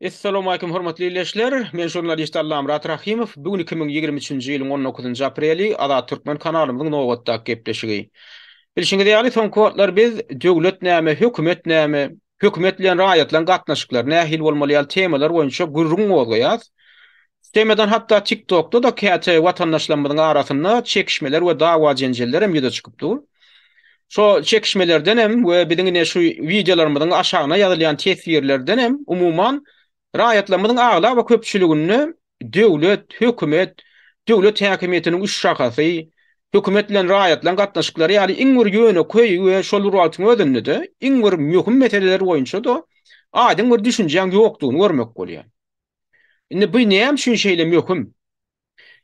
Essalamualeýkum hormatly ildeşler! Men žurnalist Allamyrat Rahymow. Bu gün iki müň ýigrimi üçünji ýylyň on dokuzynjy apreli, Azat Türkmen kanalymyzyň nobatdaky gepleşigi. Bilşiňiz ýaly, soňky wagtlar biz Döwlet näme, hökümet näme, hökümet bilen raýatlaryň gatnaşyklary nähili bolmaly ýaly temalar boýunça gürrüň gozgaýas. Üstemidan hatda TikTokda-da käte watandaşlarymyzyň arasynda çekişmeler we dawa-jenjeller hem ýüze çykyp dur. Şo çekişmelerden hem we biziň ine şu wideolarymyzyň aşagyna ýazylýan teswirlerden hem umuman raýatlarymyzyň aglaba köpçüliginde döwlet, hökümet, döwlet häkimiýetiniň üç şahasy, hökümet bilen raýatlaryň gatnaşyklary ýaly iň bir ýönekeý we şol bir wagtyň özünde-de iň bir möhüm meseleler boýunça-da aýdyň bir düşünjäň ýokdugyny görmek bolýar. Indi bu näme üçin şeýle möhüm?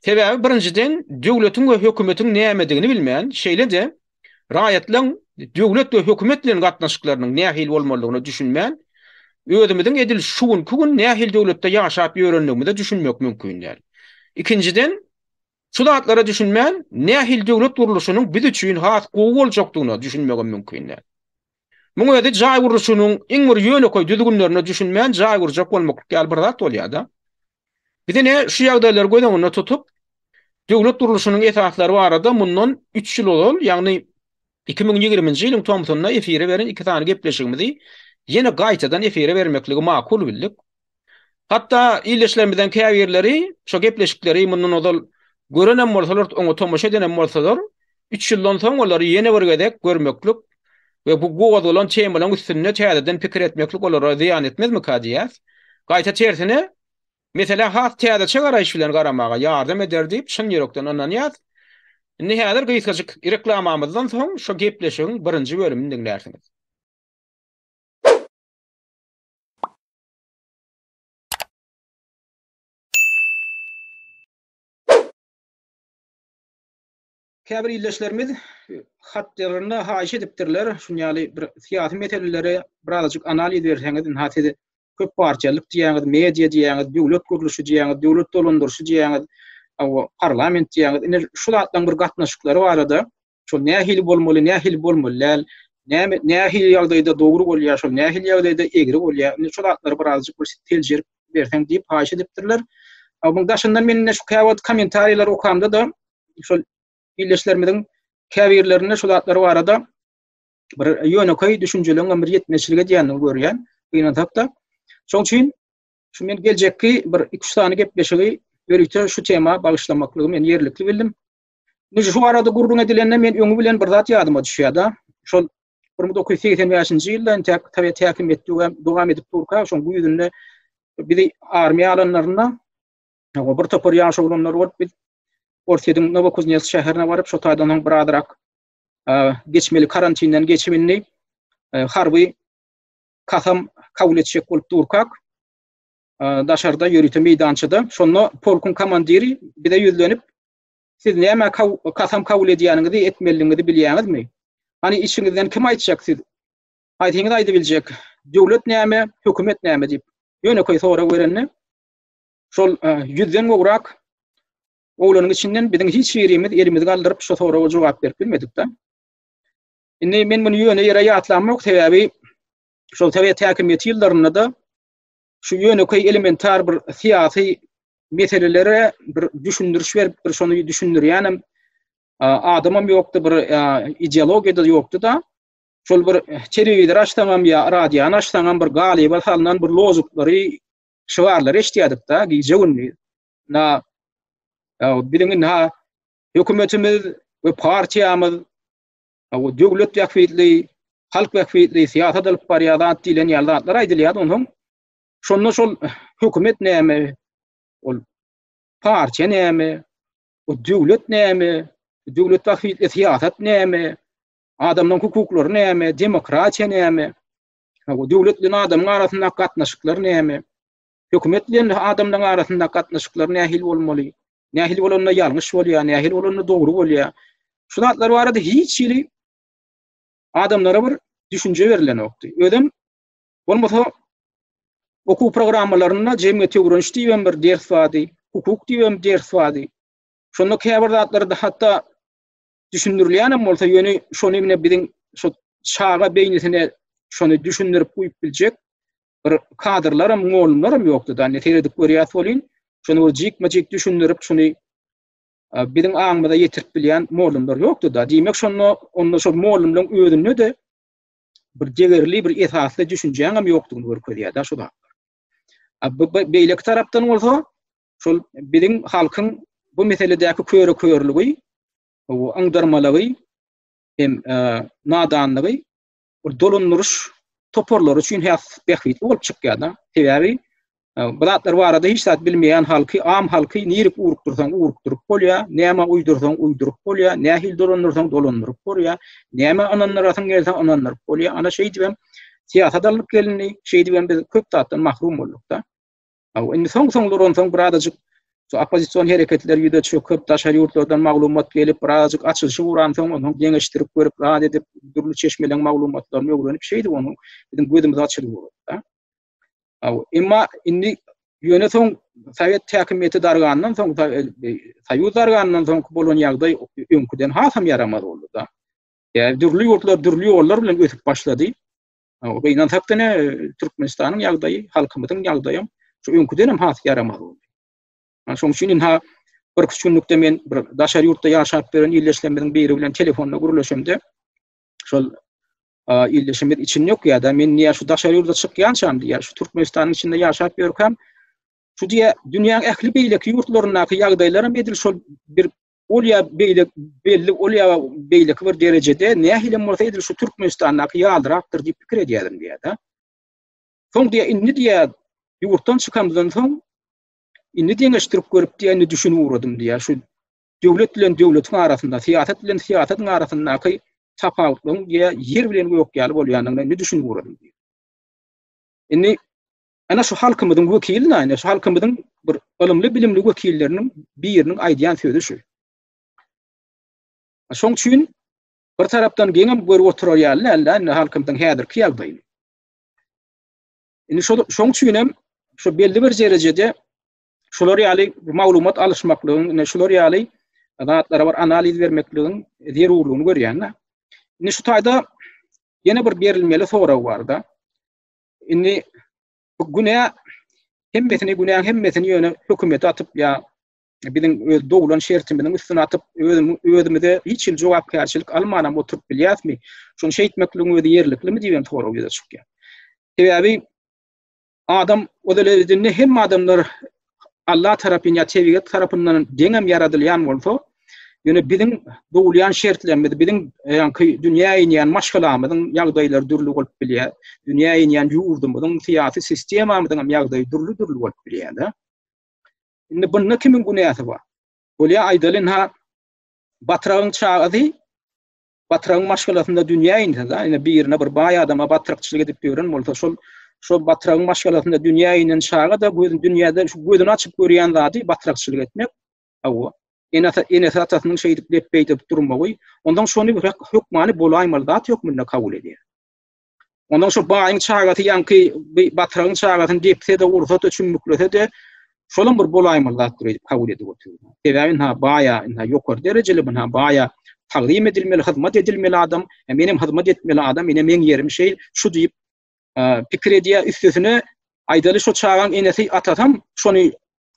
Sebäbi birinjiden döwletiň we hökümetiň nämedigini bilmän, şeýle-de raýatlaryň döwlet we hökümet bilen gatnaşyklarynyň nähili bolmalydygyna düşünmän, özümiziň edil şu günki gün nähili döwletde ýaşap ýörendigimize düşünmek mümkin däl. Ikinjiden, şu zatlara düşünmän, nähili döwlet gurluşynyň biz üçin has gowy boljakdygyna düşünmegem mümkin däl. Muň özi jaý gurluşynyň iň bir ýönekeý düzgünlerine düşünmän jaý gurjak bolmaklyk ýaly bir zat bolýar-da. Biz ine şu ýagdaýlary göz öňünde tutup, döwlet gurluşynyň esaslary barada mundan üç ýyl ozal, ýagny iki müň ýigriminji ýylyň tomsunda efire beren iki sany gepleşigimizi ýene gaýtadan efire bermekligi makul bildik. Hatda ildeşlerimizden käbirleri şu gepleşikleri mundan ozal görenem bolsalar, oňa tomaşa edenem bolsalar, üç ýyldan soň olary ýene bir gezek görmeklik we bu gozgalan temalaryň üstünde täzeden pikir etmeklik olara zyýan etmezmika diýýäs. Gaýta tersine, meselä has täzeçe garaýyş bilen garamaga ýardam eder diýip, çyn ýürekden ynanýas. Indi häzir gysgajyk reklamamyzdan soň şu gepleşigiň birinji bölümini diňlärsiňiz. Käbir ildeşlerimiz hatlarynda haýyş edipdirler, şun ýaly bir syýasy meseleleri birazajyk analiz berseňiz, ynha siz köp partiýalyk diýýäňiz, media diýýäňiz, döwlet gurluşy diýýäňiz, döwlet dolandyryşy diýýäňiz, parlament diýýäňiz. Ine şu zatlaryň bir gatnaşyklary barada Şol nähili bolmaly, nähili bolmaly däl, näme nähili ýagdaýda dogry bolýar, şol nähili ýagdaýda egri bolýar. Indi şol zatlary birazjyk bir seljerip berseň diýip haýyş edipdirler. Onuň daşyndan men şu käwagt kommentariýalary okamda da şol ildeşlerimiziň käbirlerinde şu zatlar barada bir ýönekeý düşünjeleriň bir ýetmezçilik edýändigini görýän. Gynansak da. Şoň üçin şu men geljekki bir 2-3 sany gepleşigi ýörite şu tema bagyşlamaklygy men ýerlikli bildim. Indi şu arada gürrüň edilende men öňi bilen bir zat ýadyma düşýär-de. Şol 1985-nji ýylda entek Sowet häkimiýeti dowam edip durka, şoň güýzünde bizi armiýa alanlarynda bir topar ýaş oglanlar bolup biz Orsýetiň Nowokuznes şäherine baryp, şo taýdan soň bir azrak geçmeli karantinden geçip indi harby kasam kabul etjek bolup durkak daşarda ýörite meýdançada şonda polkuň komandiri bize ýüzlenip Siz nämä kasam kabul edýäniňizi, etmeliligiňizi bilýäňizmi? Hany içiňizden kim aýtjak siz aýdyňyz aýdybiljek döwlet näme, hökümet näme diýip ýönekeý sorag berende şol ýüzden gowrak oglanyň içinden biziň hiç birimiz elimizi galdyryp şu soraga jogap berip bilmedik-de. Indi men muny ýöne ýere ýatlamok, sebäbi şol sowet häkimiýeti ýyllarynda-da şu ýönekeý elementar bir syýasy meselelere bir düşündiriş berip bir şony düşündirýänem adamam ýokdy bir ideologiýada ýokdy da şol bir telewizor açsaňam ýa radiony açsaňam bir galyba salnan bir lozuklary şygarlary eşitýärdik da gije günli na biziň indi hökümetimiz we partiýamyz Hawa, döwlet bähbitli, halk bähbitli syýasat alyp barýar zat diýlen ýaly zatlar aýdylýar, onsoň şonda şol hökümet näme, ol partiýa näme, o döwlet näme, döwlet bähbitli syýasat näme, adamlaryň hukuklary näme, demokratiýa näme, hawa, döwlet bilen adamyň arasyndaky gatnaşyklar näme, Hökümet bilen adamlaryň arasyndaky gatnaşyklar nähili bolmaly? Nähili bolanda ýalňyş bolýar, nähili bolanda dogry bolýar? Şu zatlar barada hiç hili adamlara bir düşünje berilenokdy. Özem bolmasa okuw programmalarynda jemgyýet öwreniş diýen bir ders bardy, hukuk diýen ders bardy. Şonda käbir zatlarda hatda düşündirilýänem bolsa, ýöne şony ine biziň şu çaga beýnisine şony düşündirip goýup biljek bir kadrlaram, mugallymlaram ýokdy da, indi seredip görýäs welin, şony bir jikme-jik düşündirip, şony biziň aňymyza ýetirip bilýän mugallymlar ýokdy da. Diýmek, şonda onda şol mugallymlaryň özünde de bir degerli, bir esasly düşünjäňem ýokdugyny görkezýär da şu zat. Bu beýleki tarapdan bolsa, şol biziň halkyň bu meseledäki köre-körlügi, aňdyrmalygy hem nadanlygy ol dolandyryş toparlary üçin has bähbitli bolup çykýar-da. Sebäbi bu zatlar barada hiç zat bilmeýän halky, am halky nirek ugrukdyrsaň ugrukdyryp bolýar, näme uýdursaň uýduryp bolýar, nähili dolandyrsaň dolandyryp bolýar, näme ynandyrasyň gelse ynandyryp bolýar. Ana şeýdibem syýasat alnyp gelindi, şeýdibem biz köp zatdan mahrum bolduk-da. Aw, indi soň-soň duransoň birazajyk şu oppozision hereketler ýüze çöküp, daşary ýurtlardan maglumat gelip, birazajyk açylyşy uransoň, onuň deňeşdirip görüp, rad edip, dürli çeşmeleň maglumatlaryny öwrenip, şeýdip onuň biziň gözümiz açylyp ugrady-da. Aw, emma indi ýöne soň sowet häkimiýeti dargandan soň, soýuz dargandan soň bolan ýagdaý öňküden hasam ýaramaz boldy-da. Ýa dürli ýurtlar dürli ýollar bilen ösüp başlady. Gynansak diňe Türkmenistanyň ýagdaýy, halkymyzyň ýagdaýam şu öňküden hem has ýaramaz boldy. Şoň üçin indi bir iki günlükde men bir daşary ýurtda ýaşap ýören ildeşlerimiziň biri bilen telefonda gürleşemde şol ildeşimiz için yok ya da men niye şu daşary ýurda çykýançam diýýär. Şu Türkmenistanyň içinde ýaşap ýörkäm şu diýýär, dünýäň ähli beýleki ýurtlaryndaky ýagdaýlar hem edil şol bir ol ýa beýle belli ol ýa beýleki bir derejede nähilem bolsa edil şu Türkmenistandaky ýalyrakdyr diýip pikir edýädim diýýär-de. Soň diýýär, indi diýýär, ýurtdan çykamdan soň indi deňeşdirip görüp diýýär, indi düşünip ugradym diýýär. Şu döwlet bilen döwletiň arasynda, syýasat bilen syýasatyň arasyndaky tapawutlygyň diýýär, ýer bilen gök ýaly bolýandygyna indi düşünip ugradym diýýär. Indi Ana şu halkymyzyň wekili näme? Şu halkymyzyň bir ylymly bilimli wekilleriniň biriniň aýdýan sözi şu. Şoň üçin bir tarapdan geňem görüp oturar ýaly däldi, indi halkymyzyň häzirki ýagdaýy. Indi şol şoň üçin hem şu belli bir derejede şular ýaly maglumat alyşmaklygyň, indi şular ýaly zatlara bir analiz bermekligiň zerurlygyny görýän. Indi şu taýda ýene bir berilmeli sorag barda. Indi bu günä hemmesini günäň hemmesini ýöne hökümet atyp ýa biziň öz doglan şertimiziň üstüne atyp özümize hiç hil jogapkärçilik almanam oturyp bilýäsmi? Şuny şeýtmekligiň özi ýerliklimi diýen sorag ýüze çykýar. Sebäbi adam o derejedinde hem adamlar Allah tarapyn ýa tebigat tarapyndan deňem ýaradylýan bolsa, ýöne biziň dogulýan şertlerimiz, biziň e, ýaňky dünýä inýän maşgalamyzyň ýagdaýlary dürli bolup bilýär. Dünýä inýän ýurdumyzyň syýasy sistemamyzyň hem ýagdaýy dürli-dürli bolup bilýär-de. Indi bunda kimiň günäsi bar? Bolýar aýdalyn ha, batragyň çagasy Batyragyň maşgalasynda dünýä inse da, ine birine bir baý adama batrykçylyk edip ýören bolsa, şol şol batragyň maşgalasynda dünýä inen çaga da gözün dünýäde şu gözüni açyp görýän zady batrakçylyk etmek. Hawa. Ene ata ene atasynyň şeýdip lepbeý edip durmagy, ondan şony bir hökmany bolaýmaly zat hökmünde kabul edýär. Ondan şu baýyň çagasy ýaňky batragyň çagasyny depse-de, ursa-da, çümmüklese-de, şolam bir bolaýmaly zatdyr öýdüp kabul edip oturýar. Sebäbi indi baýa, indi ýokary derejeli, indi baýa tagzym edilmeli, hyzmat edilmeli adam, e, men hem hyzmat etmeli adam, ine meň ýerim şeýl, şu diýip e, pikir edýär. Üstesine aýdaly şu çagaň enesi, atasy hem şony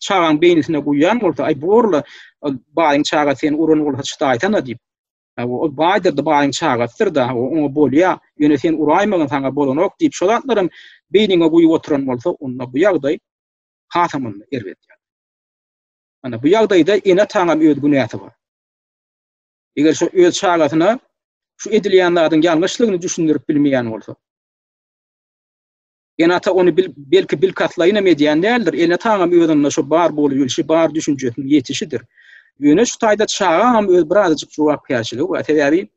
çagaň beýnisine guýýan bolsa, aý borla e, baýyň çagasy seni uran bolsa çydaýsana diýip, Hawa, ol baýdyr-da, baýyň çagasydyr-da, hawa, oňa bolýa, ýöne sen uraýmagyn, saňa bolanok diýip, şo zatlaram beýniňe guýup oturan bolsa, onda bu ýagdaý hasam-da erbet ýagdaý. Ana, bu ýagdaýda ene-ataňam öz günäsi bar. Eger şo öz çagasyna şu edilýän zadyň ýalňyşlygyny düşündirip bilmeýän bolsa, Enata ony bil, belki bilkastlaýynam edýän däldir. Enataňam özünde şu bar bolýulşy, bar düşünjesiniň ýetişidir. Ýöne şu taýda çagaňam öz birazajyk jogapkärçiligi bar. Sebäbi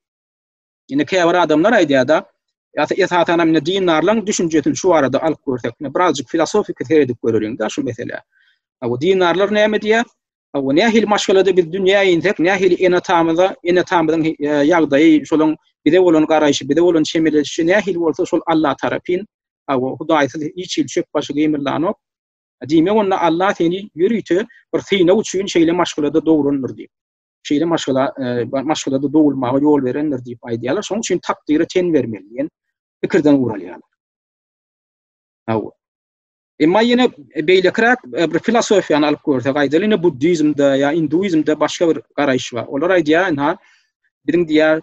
indi käbir adamlar aýdýar-da, ýa-da esasanam indi dindarlaryň düşünjesini şu barada alyp görsek, birazajyk filosofiki seredip göreliň-de şu meselä. Bu dindarlar näme diýýär? Hawa, nähili maşgalada biz dünýä insek, nähili ene-atamyza, ene-atamyzyň ýagdaýy, şolaň bize bolan garaýşy, bize bolan çemeleşişi nähili bolsa, şol Alla tarapyn. Hawa, Hudaýsyz hiç hili çöp başy gymyldanok. Diýmek, onda Alla seni ýörite bir synag üçin şeýle maşgalada dograndyr diýip, şeýle maşgala, maşgalada dogulmaga ýol berendir diýip aýdýarlar. Şonuň üçin takdyra ten bermeli diýen pikirden guralýarlar. Hawa. Emma ýene beýlekiräk e, bir filosofiýany alyp görsek, aýdaly ýene buddizmde ýa hinduizmde başga bir garaýyş bar. Olar aýdýar, ha, biziň diýär,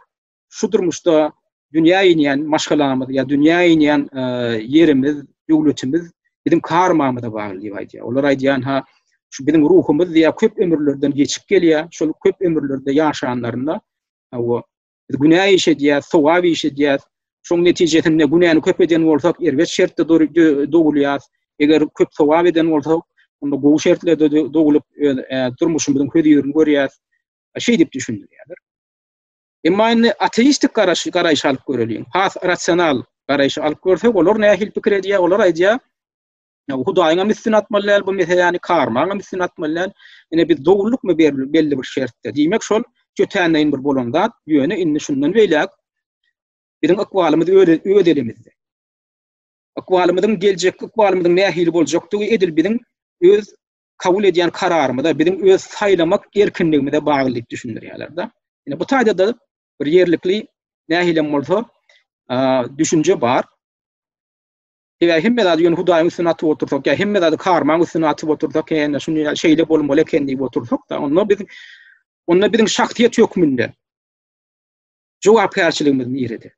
şu durmuşda dünýä inýän maşgalamyz ýa dünýä inýän e, ýerimiz, döwletimiz biziň karmamyza bagly diýip aýdýar. Olar aýdýar, ha, şu biziň ruhumyz diýär, köp ömürlerden geçip gelýär, şol köp ömürlerde ýaşanlarynda, hawa, Biz günä iş edýäs, sogap iş edýäs. Şoň netijesinde günäni köp eden bolsak, erbet şertde dogulýas. Eger köp sogap eden bolsak, onda gowy şertlerde dogulyp, öz durmuşymyzyň hözirini görýäs. Şeýdip düşündirýärler. Emma indi ateistik garaş, garaýyş alyp göreliň. Has rasional garaýyş alyp görsek, olar nähili pikir edýär? Olar aýdýar, Yani Hudaýyňam üstüne atmaly däl bu meseläni, karmaňam üstüne atmaly däl. Ine biz dogrulyk mı berli, belli bir şertde. Diýmek şol jötänleýin bir bolan zat. Ýöne indi şundan beýläk biziň ykbalymyz öz, öz elimizde. Ykbalymyzyň geljek ykbalymyzyň nähili boljakdygy edil biziň öz kabul edýän kararymyza, biziň öz saýlamak erkinligimize bagly diýip düşündirýärler-de. Ine bu taýda da bir ýerlikli nähilem bolsa düşünje bar. Eger hemme zady ýöne Hudaýyň üstüne atyp otursak, ýa hemme zady karmaň üstüne atyp otursak, ýa şuny şeýle bolmaly eken diýip otursak-da, onda biz onda biziň şahsyýet hökmünde jogapkärçiligimiz nirede?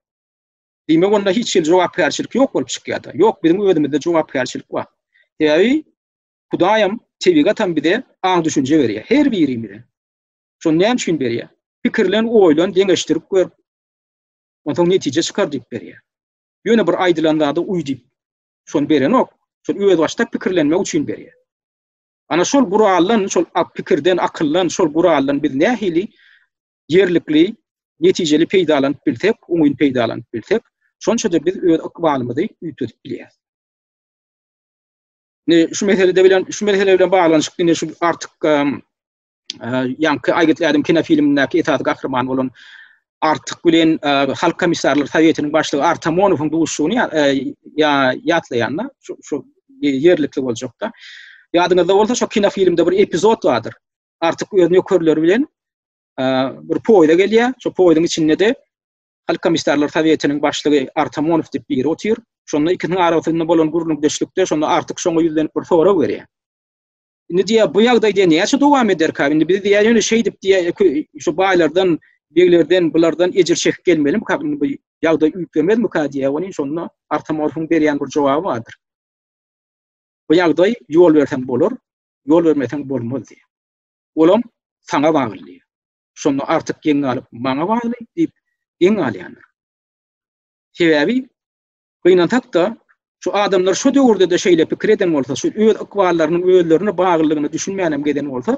Diýmek, onda hiç hili jogapkärçilik ýok bolup çykýar-da. Ýok, biziň özümizde jogapkärçilik bar. Sebäbi Hudaýam, tebigatam bize aň düşünje berýär, her birimize. Şony näme üçin berýär? Pikirlen, oýlan, deňeşdirip gör. Onsoň netije çykar diýip berýär. Ýöne bir aýdylan zada uý diýip, şony berenok, şol özbaşdak pikirlenmek üçin berýär. Ana şol guraldan, şol pikirden, akyldan, şol guraldan biz nähili ýerlikli, netijeli peýdalanyp bilsek, oňyn peýdalanyp bilsek, şonça-da biz öz ykbalymyzy üýtgedip bilýäris. Ne şu meselede bilen, şu mesele bilen baglanyşykly ne şu artyk ýaňky Aýgytly ädim kinofilmindäki esasy gahryman bolan Artyk bilen Halk komissarlar sowetiniň başlygy Artamonowyň duşuşygyny ýatlaýanda, şu ýerlikli boljakda. Ýadyňyzda bolsa, şu kinofilmde bir epizod bardyr. Artyk öz nökerleri bilen bir poýda gelýär. Şu poýduň içinde de Halk komissarlar sowetiniň başlygy Artamonow diýip biri otyr. Şonda ikisiniň arasynda bolan gürrüňdeşlikde şonda Artyk şoňa ýüzlenip bir sorag berýär. Indi diýýär, bu ýagdaý diýýär, näçe dowam ederkä? Indi biz diýýär, ýöne şeýdip diýýär, şu baýlardan, beglerden, bulardan ejir çekip gelmelimikä? Indi bu ýagdaý üýtgemezmikä diýýär. Welin şonda Artamorfuň berýän bir jogaby bardyr. Bu ýagdaý ýol berseň bolar, ýol bermeseň bolmaz diýýär. Olam saňa bagly diýýär. Şonda artyk geň galyp, maňa bagly diýip geň galýandyr. Sebäbi Gynansak-da, şu adamlar şu döwürde-de şeýle pikir eden bolsa, şu öz ykballarynyň özlerine baglylygyna düşünmänem geden bolsa,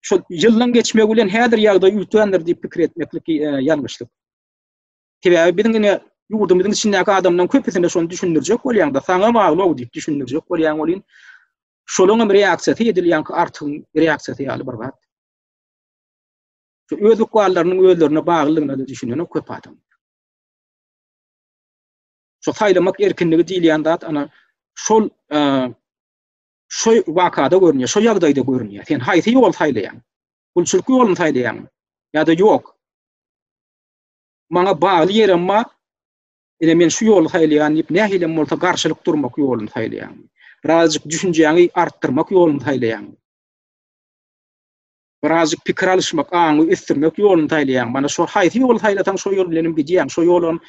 şu ýyllaryň geçmegi bilen häzir ýagdaý üýtgändir diýip pikir etmeklik ýalňyşlyk. Sebäbi biziň ine ýurdumyzyň içindäki adamlaryň köpüsine şony düşündirjek bolýaňda, saňa bagly-ow diýip düşündirjek bolýaň welin, şolaryň hem reaksiýasy edil ýaňky artygyň reaksiýasy ýaly bir zat. Şu öz ykballarynyň özlerine baglylygyna-da düşünen köp adam. Şu saýlamak erkinligi diýilýän zat ana şol şu wakada görünýär, şu ýagdaýda görünýär. Sen haýsy ýoly saýlaýaň? Gulçulyk ýoluny saýlaýaňmy? Ýa-da ýok? Maňa bagly ýerem bar. Ine men şu ýoly saýlaýan diýip, nähilem bolsa garşylyk durmak ýoluny saýlaýaňmy? Birazjyk düşünjäňi artdyrmak ýoluny saýlaýaňmy? birazjyk pikir alyşmak, aňy ösdürmek ýoluny saýlaýaň. Mana şo haýsy ýoly saýlasaň, şo ýol bilen hem gidýäň. Şo ýol hem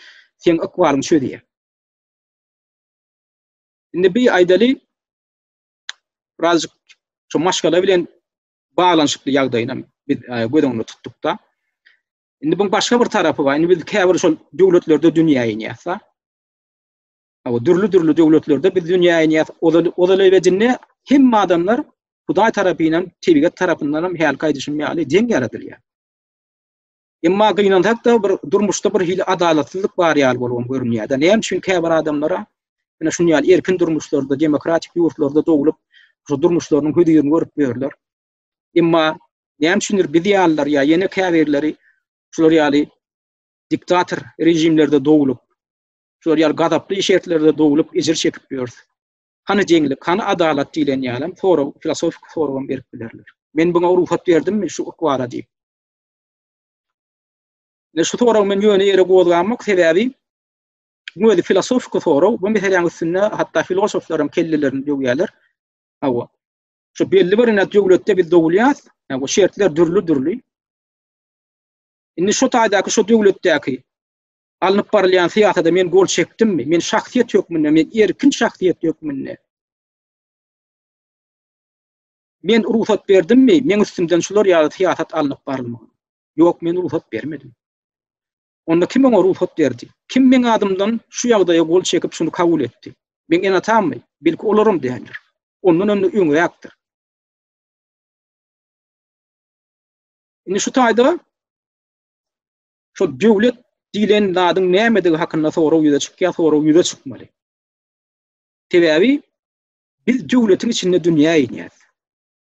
seň ykbalyňy çözýär. Indi bi aýdaly, birazjyk şu maşgala bilen baglanyşykly ýagdaýyny hem biz e, göz öňünde tutduk-da. Indi bu başga bir tarapy bar. Indi biz käbir şol döwletlerde dünýä inýäs-da. Awa dürli-dürli döwletlerde biz dünýä inýäs. Ozal ozal ebedinde hemme adamlar Hudaý tarapyndan, tebigat tarapyndan hem hälki aýdyşym ýaly deň ýaradylýar. Emma gynansak-da bir durmuşda bir hili adalatsyzlyk bar ýaly bolup görünýär. Näme üçin käbir adamlara ýene şuny ýaly erkin durmuşlarda, demokratik ýurtlarda doglup, şu durmuşlarynyň hözirini görüp ýörler. Emma näme üçindir biz ýalylar ýa ýene käbirleri şular ýaly diktator rejimlerde doglup, Şular ýaly gazaply şertlerde doglup ejir çekip ýörs. Hany deňlik, hany adalat diýlen ýalam sorag, filosofiki soragam berip bilerler. Men buňa rugsat berdimmi şu ykwara diýip. Ne şu sorag men ýöne ýere gozgamok, sebäbi bu özi filosofiki sorag, bu meseläň üstünde hatda filosoflaram kellelerini döwýärler. Hawa. Şu belli bir ene döwletde biz dogulýas, hawa şertler dürli-dürli. Indi şu taýdaky şu döwletdäki alnyp barylýan syýasada men gol çekdimmi? Men şahsyýet hökmünde, men erkin şahsyýet hökmünde. Men rugsat berdimmi? Men üstümden şular ýaly syýasat alnyp barylmagy. Ýok, men rugsat bermedim. Onda kim oňa rugsat berdi? Kim meň adymdan şu ýagdaýa gol çekip şuny kabul etdi? Men enatammy? Belki olaram däldir. Ondan öňde öňräkdir. Indi şu taýda şol döwlet diýlen zadyň nämedigi hakynda sorag ýüze çykýar, sorag ýüze çykmaly. Sebäbi biz döwletiň içinde dünýä inýäs.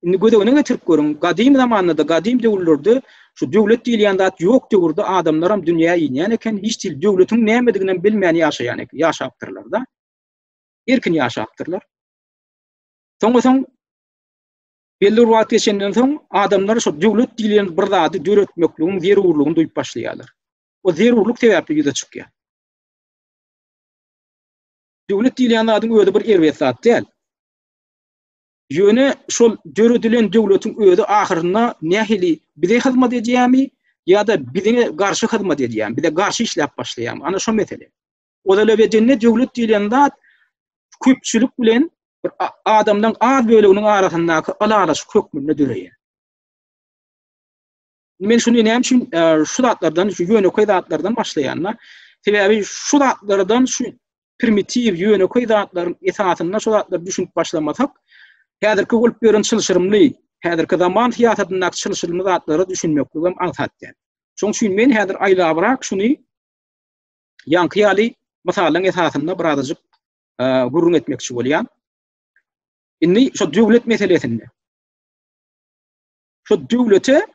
Indi göz öňüne getirip görüň, gadym zamanda-da, gadym döwürlerde şu döwlet diýilýän zat ýok döwürde adamlar hem dünýä inýän eken, hiç dil döwletiň nämedigini hem bilmän ýaşaýan eken, ýaşapdyrlar-da. Erkin ýaşapdyrlar. Soň bolsa Belli bir wagt geçenden soň adamlar şo döwlet diýlen bir zady döretmekligiň zerurlygyny duýup başlaýarlar. O zerurlyk sebäpli ýüze çykýar. Döwlet diýlen zadyň özi bir erbet zat däl. Ýöne şol döredilen döwletiň özi ahyrynda nähili bize hyzmat edýärmi ýa-da bize garşy hyzmat edýärmi, bize garşy işläp başlaýarmy? Ana şo mesele. Ozal ebedinde döwlet diýlen zat köpçülik bilen bir adamlaryň az böleginiň arasyndaky ylalaşyk hökmünde döreýär. Men şuny näme üçin e, şu zatlardan, şu ýönekeý zatlardan başlaýanda, sebäbi şu zatlardan şu primitiw ýönekeý zatlaryň esasynda şu zatlar düşünip başlamasak, häzirki bolup ýören çylşyrymly, häzirki zaman syýasatyndaky çylşyrymly zatlara düşünmekligim aňsat däl. Şoň üçin men häzir aýlabrak şuny Ýaňky ýaly mysallaryň esasynda birazajyk gürrüň etmekçi bolýan. Indi şu döwlet meselesinde. Şu döwlete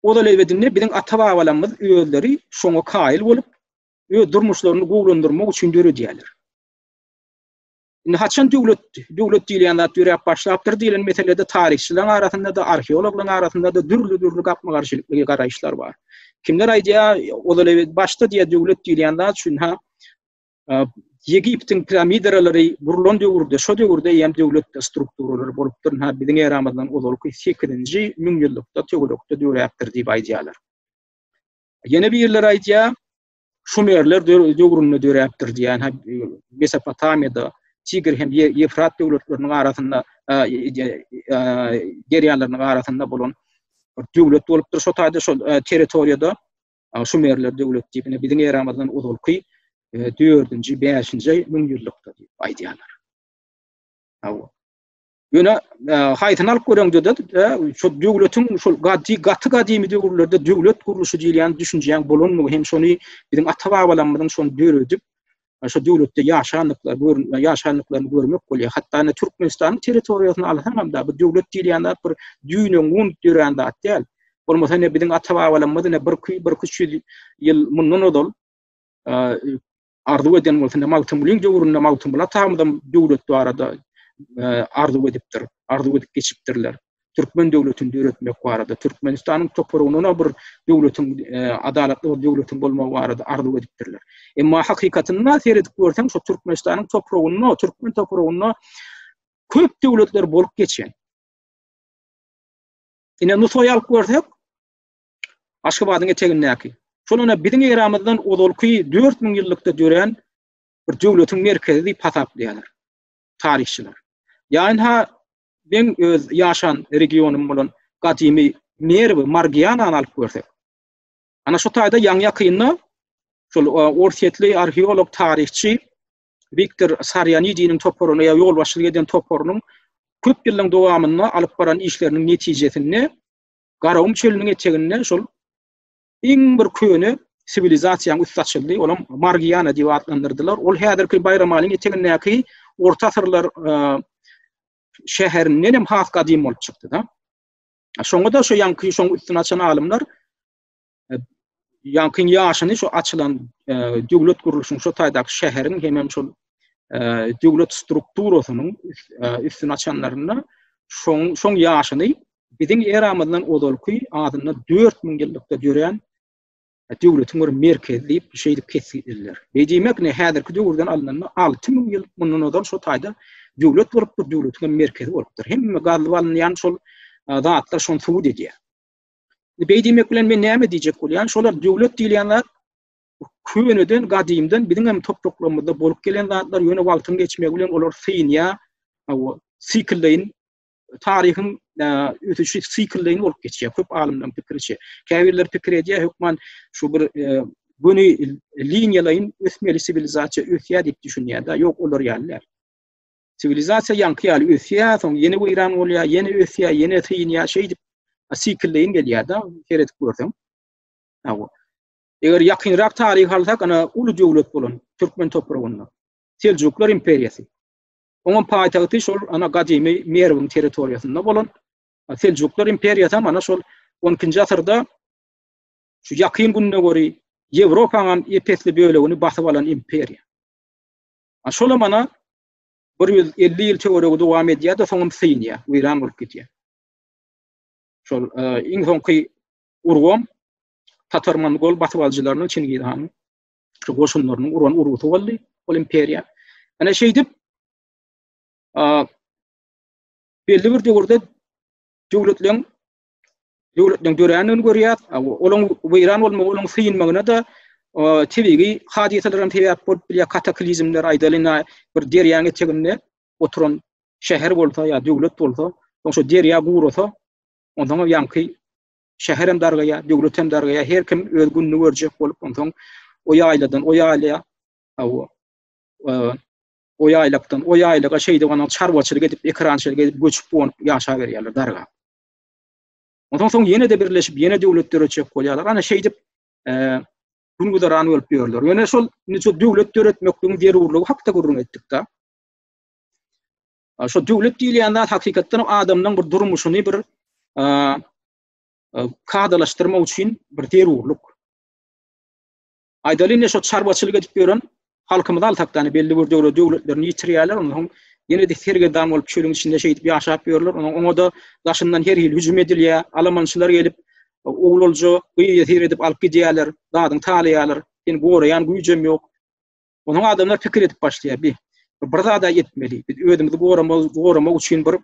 o da lebedinde biziň ata-babalarymyz özleri şoňa kaýyl bolup, öz durmuşlaryny gowulandyrmak üçin döredýärler. Indi haçan döwlet, döwlet diýilýän zat ýöräp başlapdyr diýilen meselede taryhçylaryň arasynda-da, arheologlaryň arasynda-da dürli-dürli gapma-garşylykly garaýyşlar bar. Kimler aýdýar, ozal ebet başda diýýär döwlet diýilýän zat üçin ha Egiptiň piramidaralary gurlan döwürde, şo döwürde eýýäm döwlet strukturalary bolupdyr. Ha biziň eramyzdan ozalky 8-nji müňýyllykda töwerekde döräpdir diýip aýdýarlar. Ýene birler aýdýar, Şumerler döwründe döräpdir diýýän, Mesopotamiýada, Tigr hem Ýewfrat döwletleriniň arasynda, derýalarynyň arasynda bolan döwlet bolupdyr. Şo taýda şol territoriýada Şumerler döwleti diýip, indi biziň eramyzdan ozalky dördünji, bäşinji müňýyllykda diýip aýdýarlar. Hawa. Ýöne haýsyny alyp göreňde-de, şu döwletiň şu gaty gaty gadymy döwürlerde döwlet gurluşy diýilýän düşünjäň bolandygy hem şony biziň ata-babalarymyzyň şony döredip, şu döwletde ýaşandyklary görmek, ýaşandyklaryny görmek bolýar. Hatda indi Türkmenistanyň territoriýasyny alsaňam-da, bu döwlet diýilýän zat bir düýne gun dörän zat däl. Bolmasa indi biziň ata-babalarymyz indi bir iki, bir iki ýüz ýyl mundan ozal arzuw eden bolsa, indi Magtymgulyň döwründe Magtymguly atamyzam döwlet barada arzuw edipdir, arzuw edip geçipdirler. Türkmen döwletini döretmek barada, Türkmenistanyň topragynda bir döwletiň, adalatly bir döwletiň bolmagy barada arzuw edipdirler. Emma hakykatynda seredip görseň, şu Türkmenistanyň topragynda, türkmen topragynda köp döwletler bolup geçen. Ine, Nusaýy alyp görsek, Aşgabadyň etegindäki, şol ine biziň eramyzdan ozalky dört müň ýyllykda dörän bir döwletiň merkezi diýip hasaplaýarlar taryhçylar. Ýa-ha men öz ýaşan regionym bolan gadymy Merwi, Margianany alyp görsek. Ana şu taýda ýaňy-ýakynda şol e, orsýetli arheolog, taryhçy Viktor Sarýanidiniň toparyny ýa ýolbaşçylyk eden toparynyň köp ýylyň dowamynda alyp baran işleriniň netijesinde Garagum çölüniň eteginde şol iň bir köne siwilizasiýanyň üsti açyldy. Olam Margiana diýip atlandyrdylar. Ol häzirki Baýramalyň etegindäki orta asyrlar e, şäherinden hem has gadym bolup çykdy da. Şoňa da şu ýanky şoň üstüni açan alymlar Ýaňkyň ýaşyny şu açylan döwlet gurluşyň şu taýdaky şäheriň hemem şol döwlet strukturasynyň üstüni açanlarynda şoň şoň ýaşyny biziň eramyzdan ozalky adynda 4000 ýyllykda dörän döwletiň bir merkezi diýip şeýdip kesgitleýärler. Beýdýmek ne häzirki döwürden alnanda 6000 ýyl mundan ozal şu taýda döwlet bolupdyr, döwletiň merkezi bolupdyr. Hemme gazyp alynýan şol zatlar şony subut edýär. Beý diýmek bilen men näme diýjek bolýan? Şolar döwlet diýilýän zat köneden, gadymdan biziň hem topraklarymyzda bolup gelen zatlar, ýöne wagtyň geçmegi bilen olar synýar. Awa, siklleýin taryhyň ösüşi siklleýin bolup geçýär. Köp alymlaryň pikiriçe. Käbirler pikir edýär, hökman şu bir göni liniýalaýyn ösmeli siwilizasiýa ösýär diýip düşünýär-de. Ýok, olar ýaly däl. Siwilizasiýa ýaňky ýaly ösýär, soň ýene weýran bolýar, ýene ösýär, ýene synýar, şeýdip siklleýin gelýär-de, seredip görseň. Hawa. Eger ýakynrak taryh alsak, ana uly döwlet bolan türkmen topragynda Seljuklar imperiýasy. Onuň paýtagty şol ana gadymy Merwiň territoriýasynda bolan Seljuklar imperiýasy hem ana şol 12-nji asyrda şu ýakyn günde göri Ýewropanyň epesli bölegini basyp alan imperiýa. A şolam ana bir ýüz elli ýyl töweregi dowam edýär-de, soňam synýar, weýran bolup gidýär. Şol iň soňky urgam tatar-mongol basybalyjylarynyň, Çingiz hanyň şu goşunlarynyň uran urgusy boldy ol imperiýa. Ana şeýdip belli bir döwürde döwletleriň döwletleň dörändigini görýär. Olaň weýran bolmagy, olaň synmagyna da tebigy hadysalar hem sebäp bolup bilýär, kataklizmler aýdalyň, bir derýaň eteginde oturan şäher bolsa ýa döwlet bolsa, soň şu derýa gurasa, ondan soň ýaňky şäher hem dargaýar, döwlet hem dargaýar, her kim öz gününi görjek bolup, ondan soň o ýaýladan o ýaýla, hawa, o ýaýlakdan o ýaýlaga şeýdip, ondan çarwaçylyk edip, ekerançylyk edip, göçüp-gonup ýaşaberýärler dargap. Ondan soň ýene-de birleşip, ýene döwlet döretjek bolýarlar. Ana şeýdip, gün-güzeran bolup ýörler. Ýöne şol şu döwlet döretmekligiň zerurlygy hakda gürrüň etdik-de. Şu döwlet diýilýän zat hakykatdan adamyň bir durmuşyny bir kadalaşdyrmak üçin bir zerurlyk. Aýdaly indi şo çarwaçylyk edip ýören halkymyz altakdany belli bir döwre döwletlerini ýitirýärler ondan soň ýene de sergedam bolup çölüň içinde şeýdip ýaşap ýörler ondan oňa da daşyndan her hili hüjüm edilýär alamançylar gelip oglalja gyýa syr edip alyp gidýärler zadyň talaýarlar seni goraýan güýjem ýok onuň adamlar pikir edip başlaýar bir zada etmeli biz özümizi goramak goramak üçin bir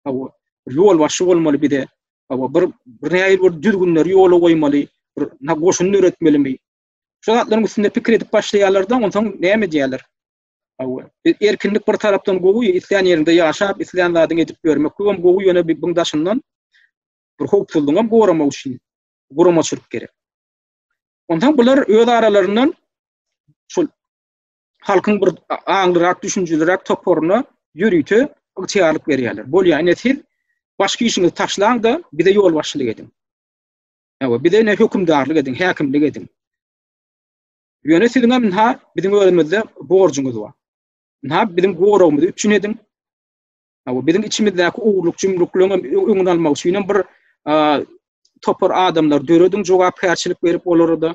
hawa ýol başy bolmaly bize hawa bir bir näýil bir düzgünleri ýola goýmaly bir nagoşuny döretmelimi şu zatlaryň üstünde pikir edip başlaýarlardan onsoň näme diýerler hawa erkinlik bir tarapdan gowy islän ýerinde ýaşap islän zadyny edip görmek bu hem gowy ýöne bir buň daşyndan bir howpsuzlygy hem goramak üçin guramaçylyk gerek onsoň bular öz aralaryndan şul halkyň bir aňlyrak, düşünjelirak toparyna ýörite ygtyýarlyk berýärler. Bolýar, ine siz başky işiňizi taşlaň-da, bize ýolbaşçylyk ediň. Ewa, bize ine hökümdarlyk ediň, häkimlik ediň. Ýöne siziň hem ynha biziň özümizde borjuňyz bar. Ynha biziň goragymyzy üpjün ediň. Ewa, biziň içimizdäki ogurlyk jümrüklerini hem öňüni almak üçin hem bir topar adamlar dörediň, jogapkärçilik berip olara da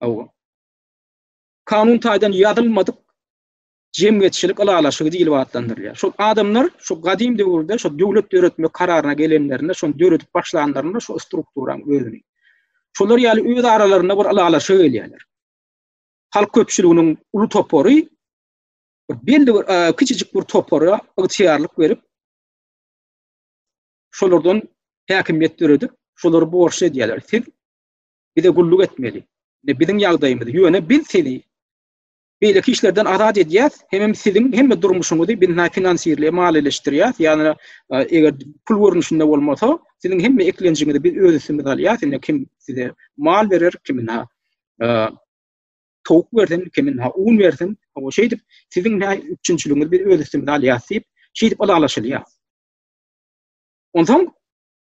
Hawa. Kanun taýdan ýazylmadyk jemgyýetçilik ylalaşygy diýlip atlandyrylýar. Şol adamlar şu gadym döwürde şu döwlet döretmek kararyna gelenlerinde, şony döredip başlanlarynda şu strukturanyň özüni. Şolar ýaly öz aralarynda bir ylalaşyga gelýärler. Halk köpçüliginiň uly topary belli bir kiçijik bir topara ygtyýarlyk berip, şolardan häkimiýet döredip, şolary borçly edýärler. Siz bize gulluk etmeli. Indi biziň ýagdaýymyz, ýöne biz sizi beýleki işlerden azat edýäs, hemem siziň hemme durmuşyňyzy biz näme finansirleýär, maliýeleşdirýäs, ýagny eger pul görnüşinde bolmasa, siziň hemme eklenjiňizi biz öz üstümize alýas, indi kim size mal berer, kim näme towuk bersin, kimin ha un bersin, o şeýdip siziň nä üçinçiligiňizi biz öz üstümize alýas diýip, şeýdip ylalaşylýar. Onsoň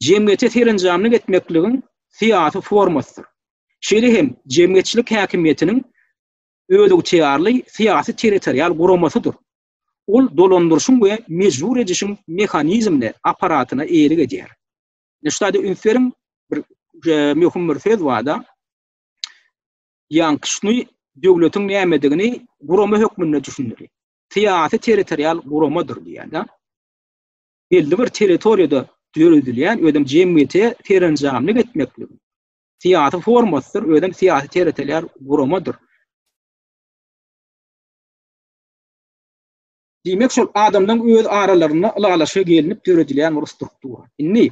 jemgyýete serenjamlyk etmekligiň syýasy formasydyr. Şeýle hem jemgyýetçilik häkimiýetiniň özygtyýarly syýasy-territorial guramasydyr. Ol dolandyryşyň we mejbur edişiň mehanizmine, apparatyna eýelik edýär. Ine şu zada üns beriň, bir möhüm bir söz barda, ýankyşny döwletiň nämedigini gurama hökmünde düşündirýär. Syýasy-territorial guramadyr diýýär-de. belli bir territoriýada döredilýän özem jemgyýete serenjamlyk etmeklik syýasy formasydyr, özem syýasy territorial guramadyr. Diýmek, şol adamlaryň öz aralarynda ylalaşyga gelnip döredilýän bir struktura. Indi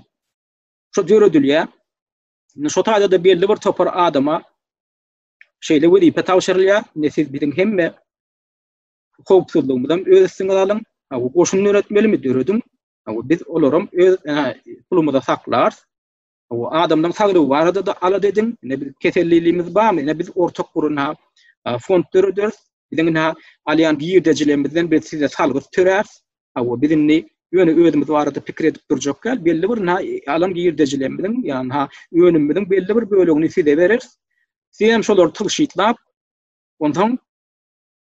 şu döredilýän, indi şu taýda-da belli bir topar adama şeýle wezipe tabşyrylýar, indi siz biziň hemme howpsuzlygymyzam öz üstüňiz alyň. Ha bu goşun döretmelimi dörediň. Ha bu biz olaram öz pulumyza saklar. Ha bu adamlaryň saglygy barada da alada ediň. Ne biz keselliligiňiz barmy? Ne biz ortak gurun ha fond döreder. Biziň ha alýan girdejilerimizden biz size salgyt törer. Ha bu biz indi ýöne özümiz barada pikir edip durjak ýal belli bir na alan girdejilerimiziň ýa-ni ha önümimiziň belli bir bölegini size berer. Siz hem şolary tygşytlap onsoň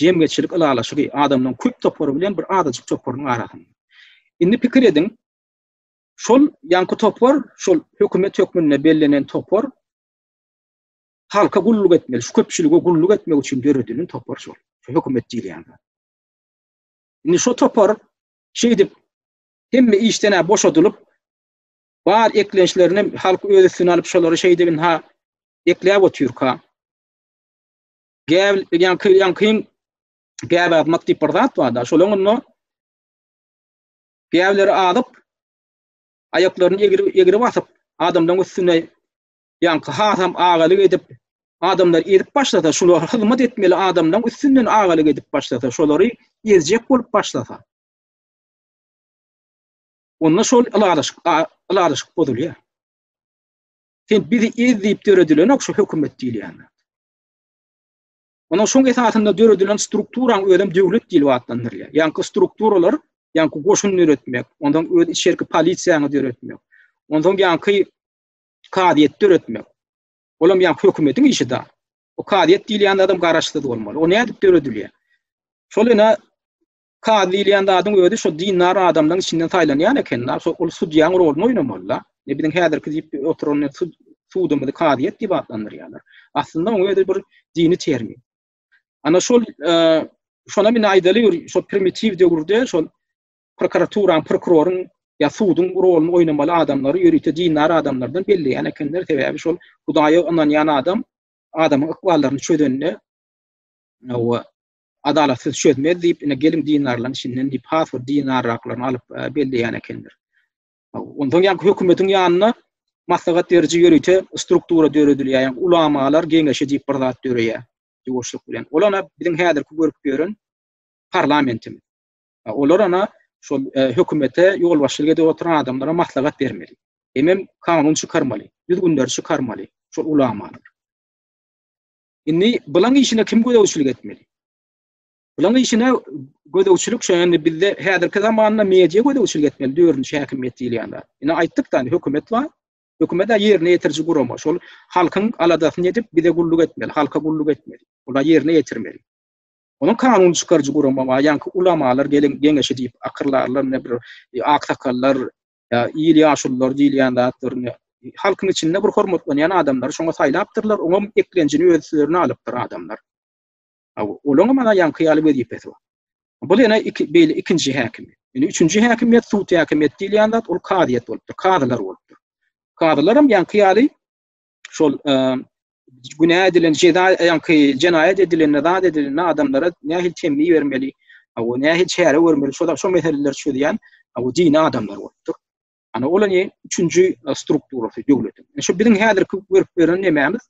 jemgyýetçilik ylalaşygy, adamlaryň köp topary bilen bir azajyk toparynyň arasynda. Indi pikir ediň, şol ýaňky topar, şol hökümet hökmünde bellenen topar halka gulluk etmeli, şu köpçülige gulluk etmek üçin döredilen topar şol, şu hökümet diýilýän zat. Indi şu topar şeýdip hemme işden-ä boşadylyp, bar eklençlerini halk öz üstüne alyp, şolary şeýdip indi-ha ekläp otyrka, Gäbil ýan kyn ýan kyn gäb atmak diýip bir zat bar-da. Şol onda gäbleri adyp aýaklaryny egri egri basyp adamlaryň üstüne ýan hasam agalyk edip adamlar edip başlasa şular hyzmat etmeli adamlaryň üstünden agalyk edip başlasa şolary ezjek bolup başlasa. Onda şol alaryşyk alaryşyk bozulýar. Sen bizi ez diýip döredilen ok şu hökümet diýilýän. Onuň şoň esasynda döredilen strukturaň özem döwlet dili atlandyrylýar. Ýaňky strukturalar, ýaňky goşun döretmek, ondan öz içerki polisiýany döretmek, ondan ýaňky kazyýet döretmek. Olam ýaňky hökümetiň işi da. O kazyýet diýilýän adam garaşsyz bolmaly. O nädip döredilýär? Şol ýene Kazy diýilýän zadyň özi şo dindar adamlaryň içinden saýlanýan eken-da, şo ol sudýaň roluny oýnamaly-da. Indi biziň häzirki diýip oturan sudumyzy kazyýet diýip atlandyrýarlar. Aslynda onuň özi bir dini termin. Ana şol şonam indi aýdaly bir şo primitiw döwürde şol prokuraturaň, prokuroryň ýa suduň roluny oýnamaly adamlary ýörite dindar adamlardan belleýän ekenler. Sebäbi şol Hudaýa ynanýan adam adamyň ykballaryny çözende we Adalat sizi çözmez diýip, ine geliň dinarlaryň içinden diýip, has bir dinarraklaryny alyp belleýän ekenler. Ondan ýa hökümetiň ýanynda maslahat beriji ýörite struktura döredilýär. Ýa ulamalar geňeşi diýip bir zat döreýär. Ýuwaşlyk bilen. Ol ana biziň häzirki görüp ýören parlamentimiz. Olar ana şol e, hökümete ýolbaşçylyk edip oturan adamlara maslahat bermeli. Hemem kanun çykarmaly, düzgünleri çykarmaly şol ulamalar. Indi bulan işine kim gözegçilik etmeli? Bulan işine gözegçilik şu anda bizde häzirki zamanda media gözegçilik etmeli, dördünçi häkimiýet diýilýänler. Ine aýtdyk da, hökümet bar. Hökümet de ýerine ýetiriji gurama. Şol halkyň aladasyny edip, bize gulluk etmeli, halka gulluk etmeli. Olar ýerine ýetirmeli. Onuň kanun çykaryjy gurama bar. Ýa-da ulamalar gelin geňeşi diýip akyrlarlar, ne bir e, aksakallar, ýa il ýaşululary diýilýän zatlaryny halkyň içinde bir hormatlanýan adamlary şoňa saýlapdyrlar, oňam eklenjini öz üstlerine alypdyr adamlar. Olaň hem ana ýaňky ýaly wezipesi bar. Bu ýene iki beýle ikinji häkim. Ýöne üçünji häkimiýet sud häkimiýeti diýilýän zat ol kazyýet bolupdyr, kazylar bolupdyr. Kazylar hem ýaňky ýaly şol günä edilen jeza ýaňky jenaýat edilen zat edilen adamlara nähili temmi bermeli we nähili çäre görmeli şol şol meseleleri çözýän bu dini adamlar bolupdyr ana ol ne üçünji e, strukturasy döwletiň e, şu biziň häzirki görüp beren nemämiz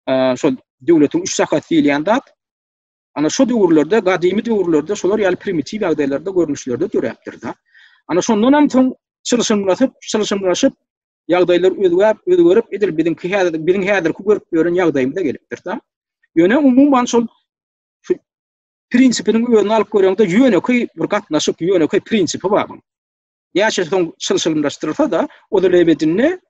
e, şol döwletiň üç sakat diýilýän zat Ana şu döwürlerde, gadymy döwürlerde şolar ýaly primitiw ýagdaýlarda, görnüşlerde döräpdir-de. Ana şondan hem soň çylşyrymlaşyp, çylşyrymlaşyp ýagdaýlar özgäp, özgerip edil biziňki häzir, biziň häzirki görüp ýören ýagdaýymyza gelipdir-de. Ýöne umuman şol prinsipiniň özüni alyp göreňde ýönekeý bir gatnaşyk, ýönekeý prinsipi bar. Näçe soň çylşyrymlaşdyrsa-da, o da lebedinde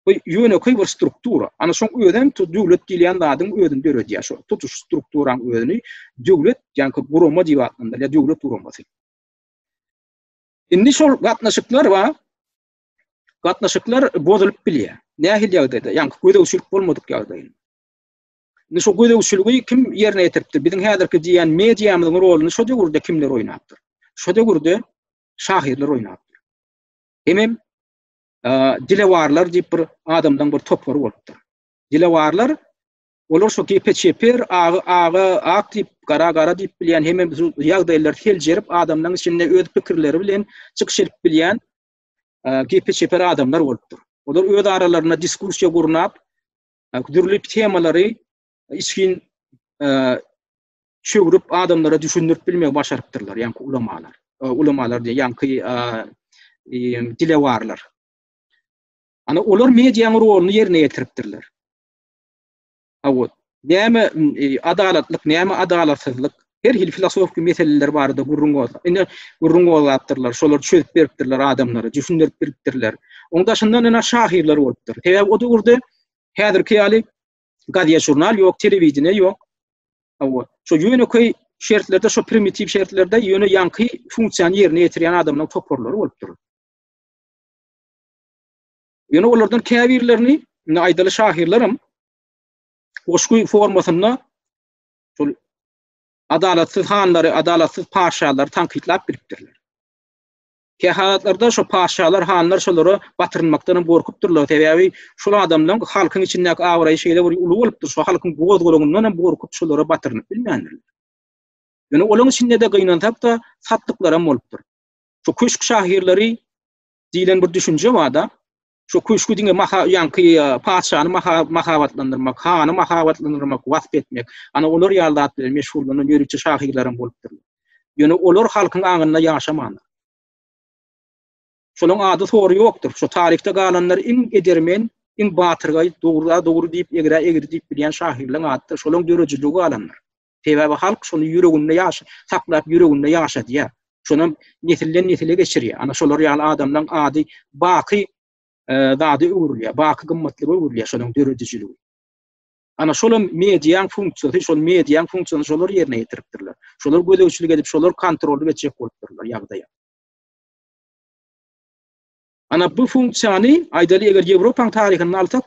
Bu ýönekeý bir struktura. Ana şoň özem tu döwlet diýilýän zadyň özüni döredýär. Şo tutuş strukturaň özüni döwlet, ýaňky gurama diýip atlandyrýar, döwlet guramasy. Indi şol gatnaşyklar bar. Gatnaşyklar bozulyp bilýär. Nähili ýagdaýda? Ýaňky gözegçilik bolmadyk ýagdaýynda. Indi şu gözegçiligi kim ýerine ýetiripdir? Biziň häzirki diýýän mediamyzyň roluny şu döwürde kimler oýnapdyr? Şu döwürde şahyrlar oýnapdyr. Hemem dilewarlar diýip bir adamlaryň bir topary bolupdyr. Dilewarlar olar şu gepe çeper, agy aga, ak diýip, gara gara diýip bilýän, hemme ýagdaýlary seljerip, adamlaryň içinde öz pikirleri bilen çykyş edip bilýän gepe çeper adamlar bolupdyr. Olar öz aralarynda diskussiýa gurnap, dürli temalary içgin çöwrüp adamlara düşündirip bilmegi başarypdyrlar, ýaňky ulamalar. Ulamalar diýen ýaňky dilewarlar. Ana olar mediýanyň roluny ýerine ýetiripdirler. Awut. Näme e, adalatlyk, näme adalatsyzlyk? Her hil filosofik meseleler barada gürrüň bolsa, indi gürrüň bolapdyrlar, şolar çözüp beripdirler adamlara, düşündirip beripdirler. Oň daşyndan ina şahyrlar bolupdyr. Sebäbi o döwürde häzirki ýaly gazýa žurnal ýok, telewideniýe ýok. Hawa, şo ýönekeý şertlerde, şo primitiw şertlerde ýöne ýaňky funksiýany ýerine ýetirýän adamlaryň toparlary bolup durur. Ýöne olardan käbirlerini, indi aýdaly şahyrlarym goşgy formasynda şol adalatsyz hanlary, adalatsyz paşalary tankytlap bilipdirler. Kähalatlarda şo patyşalar, hanlar şolara batyrynmakdan hem gorkupdyrlar, sebäbi şol adamlaryň halkyň içindäki abraýy şeýle bir uly bolupdyr, şo halkyň goz-golaňyndan hem gorkup şolara batyrynyp bilmändirler. Ýöne olaryň içinde-de gynansak-da, satdyklar hem bolupdyr. Şu köşk şahyrlary diýlen bir düşünje bar-da, Şu köşgi diňe maha ýaňky patyşany mahabatlandyrmak, hany mahabatlandyrmak, wasp etmek, ana olar ýaly zat bilen meşgullan ýörite şahyrlaram bolupdyr. Ýöne olar halkyň aňynda ýaşamandyr. Şolaryň ady sory ýokdur. Şu taryhda galanlar iň edermen, iň batyrgaý, dogry-a dogry diýip, egri-a egri diýip bilýän şahyrlaryň adydyr. Şolaryň döredijiligi galandyr. Sebäbi halk şony ýüreginde ýaş saklap ýüreginde ýaşadýar. Şonam nesilden nesile geçirýär. Ana şolar ýaly adamlaryň ady baky zada öwrülýär, baky gymmatlyga öwrülýär şonuň döredijiligi. Ana şolam mediýaň funksiýasy, şol mediýaň funksiýasyny şolar ýerine ýetiripdirler. Şolar gözegçilik edip, şolar kontrolly geçjek bolupdyrlar ýagdaýa. Ana bu funksiýany aýdaly eger Ýewropaň taryhyny alsak,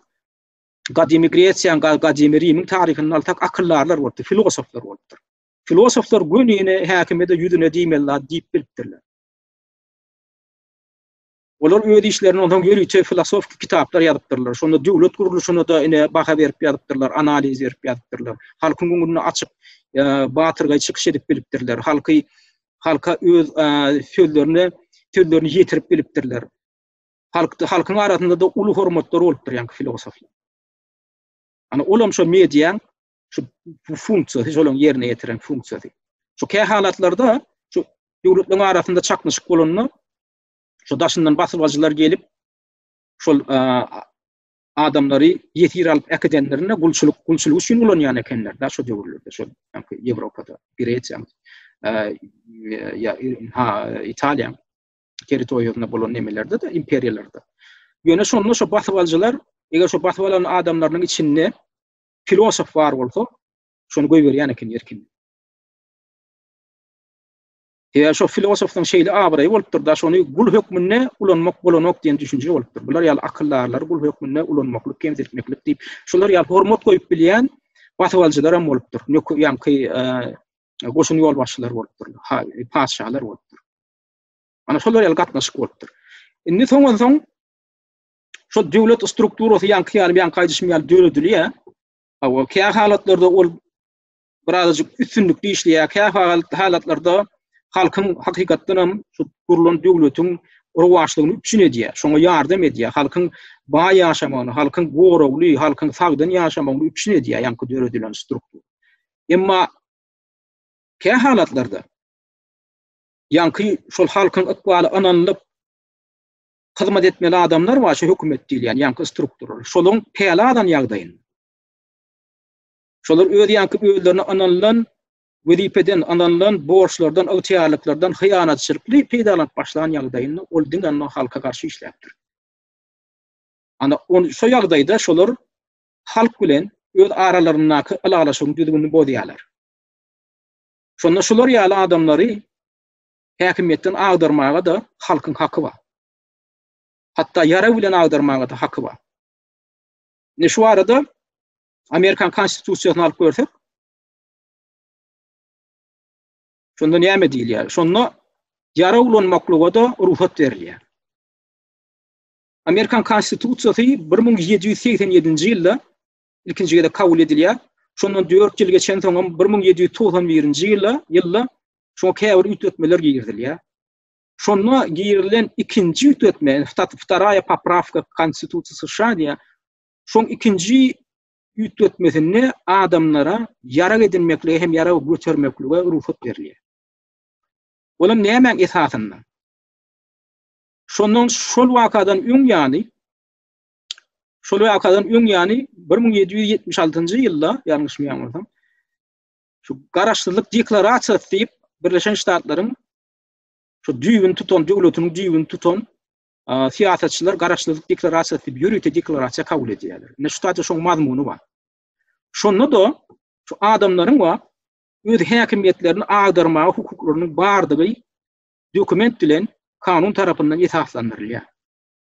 gadymy Gresiýa, gadymy Rimiň taryhyndan alsak, akyldarlar bolupdyr, filosoflar bolupdyr. Filosoflar gününe häkimede ýüzüne diýmeli zat diýip bilipdirler. Olar öz işlerini ondan ýörite filosofik kitaplar ýazypdyrlar. Şonda döwlet gurluşyna da ine baha berip ýazypdyrlar, analiz berip ýazypdyrlar. Halkyň öňünde açyk e, batyrgaý çykyş edip bilipdirler. Halky halka öz e, sözlerini sözlerini ýetirip bilipdirler. halkda halkyň arasynda-da uly hormatlary bolupdyr ýaňky filosoflaryň. Ana ol hem şo mediýaň şu bu funksiýasy, şolaryň ýerine ýetiren funksiýasy. Şu kä halatlarda şu döwletleriň arasynda çaknyşyk bolanda şu daşyndan basybaçylar gelip şol adamlary ýesir alyp äkidenlerinde gulçulyk gulçulyk üçin ulanýan ekenler da şu döwürlerde şu ýaňky Ýewropada, Gresiýa, ýa ha Italiýa. territoriýasynda bolan nemelerde-de, imperiýalarda. Ýöne şonda şo basybaljylar, eger şo basyp alan adamlarynyň içinde filosof bar bolsa, şony goýberýän eken erkin. Eger şo filosofyň şeýle abraýy bolupdyr-da, şony gul hökmünde ulanmak bolanok diýen düşünje bolupdyr. Bular ýaly akyldarlary gul hökmünde ulanmaklyk, kemsitmeklik diýip, şular ýaly hormat goýup bilýän basybaljylar hem bolupdyr. Nöker ýaňky goşun ýolbaşçylary bolupdyr, patyşalar bolupdyr. Ana şolar ýaly gatnaşyk bolupdyr. Indi soňansoň şol döwlet strukturasy ýaňky ýaly ýaňky aýdyşym ýaly döredilýär. Hawa, kä halatlarda ol birazajyk üstünlikli işleýär, kä halatlarda halkyň hakykatdan hem şu gurlan döwletiň rowaçlygyny üpjün edýär, şoňa ýardam edýär, halkyň baý ýaşamagyny, halkyň goragly, halkyň sagdyn ýaşamagyny üpjün edýär ýaňky döredilen struktura. Emma kä halatlarda Ýaňky şol halkyň ykbaly ynanylyp hyzmat etmeli adamlar bar, şu hökümet diýilýän ýaňky struktura. Şolaryň päli alan ýagdaýynda. Şolar öz ýaňky özlerine ynanylan wezipeden, ynanylan borçlardan, ygtyýarlyklardan hyýanatçylykly peýdalanyp başlan ýagdaýynda ol diňe ondan halka garşy işläpdir. Ana, ol şu ýagdaýda şolar halk bilen öz aralaryndaky ylalaşygyň düzgünini bozýarlar. Şonda şular ýaly adamlary häkimiýetden agdarmaga-da halkyň haky bar. Hatda ýarag bilen agdarmaga-da haky bar. Indi şu arada Amerikan Konstitusiýasyny alyp görsek, şonda näme diýilýär? Şonda ýarag ulanmaklyga-da rugsat berilýär. Amerikan Konstitusiýasy 1787-nji ýylda ilkinji gezek kabul edilýär. Şondan dört ýyl geçensoňam bir müň ýedi ýüz togsan birinji ýyla ýylda şoňa käbir üýtgetmeler girizilýär. Şonda girilen ikinji üýtgetme, Stat Wtaraya Popravka Konstitusiýa США diýýär. Şoň ikinji üýtgetmesinde adamlara ýarag edinmeklige hem ýarag götermeklige rugsat berilýär. Olam nämäň esasynda? Şondan şol wakadan öň ýaly Şol wakadan öň ýany 1776-njy ýylda, ýalňyşmaýan bolsam, şu garaşsyzlyk deklarasiýasy diýip Birleşen Ştatlaryň şu düýbüni tutan, döwletiniň düýbüni tutan syýasatçylar garaşsyzlyk deklarasiýasy diýip ýörite deklarasiýa kabul edýärler. Ine şu taýda şoň mazmuny bar. Şonda da şu adamlaryň we öz häkimiýetlerini agdarmaga hukuklarynyň bardygy dokument bilen kanun tarapyndan esaslandyrylýar.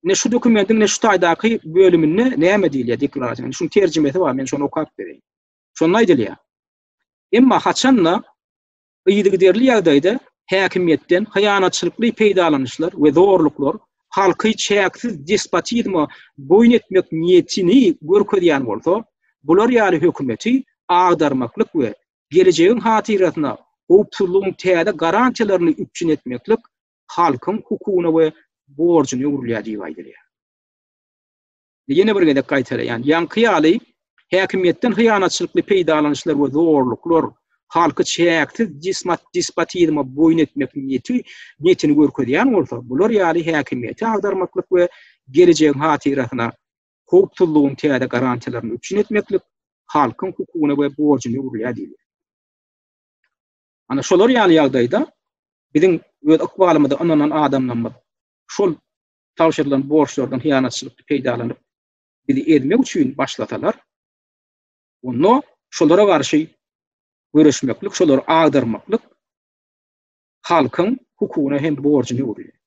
Ne şu dokumentin ne şu taýdaky bölüminde näme diýilýär deklarasiýanyň? Şuň terjimesi bar, men şony okap bereýin. Şonda aýdylýar. Emma haçanda yzygiderli ýagdaýda häkimiýetden hyýanatçylykly peýdalanyşlar we zorluklar halky çäksiz despotizme boýun etmek niýetini görkezýän bolsa, bular ýaly hökümeti agdarmaklyk we gelejegiň hatyrasyna howpsuzlygyň täze garantiýalaryny üpjün etmeklik halkyň hukugyna we borjuna öwrülýär diýip aýdylýar. Ýene bir gezek gaýtalaýan, ýaňky ýaly häkimiýetden hyýanatçylykly peýdalanyşlar we zorluklar halky çäksiz despotizme boýun etmek niýeti niýetini görkezýän bolsa, bular ýaly häkimiýeti agdarmaklyk we gelejegiň hatyrasyna howpsuzlygyň täze garantiýalaryny üpjün etmeklik halkyň hukugyna we borjuna öwrülýär diýilýär. Ana şolar ýaly ýagdaýda biziň öz ykbalymyza ynanan adamlarymyz şol tabşyrylan borçlardan hyýanatçylykly peýdalanyp, bizi ezmek üçin başlasalar, onda şolara garşy göreşmeklik, şolary agdarmaklyk halkyň hukugyna hem borjuna öwrülýär.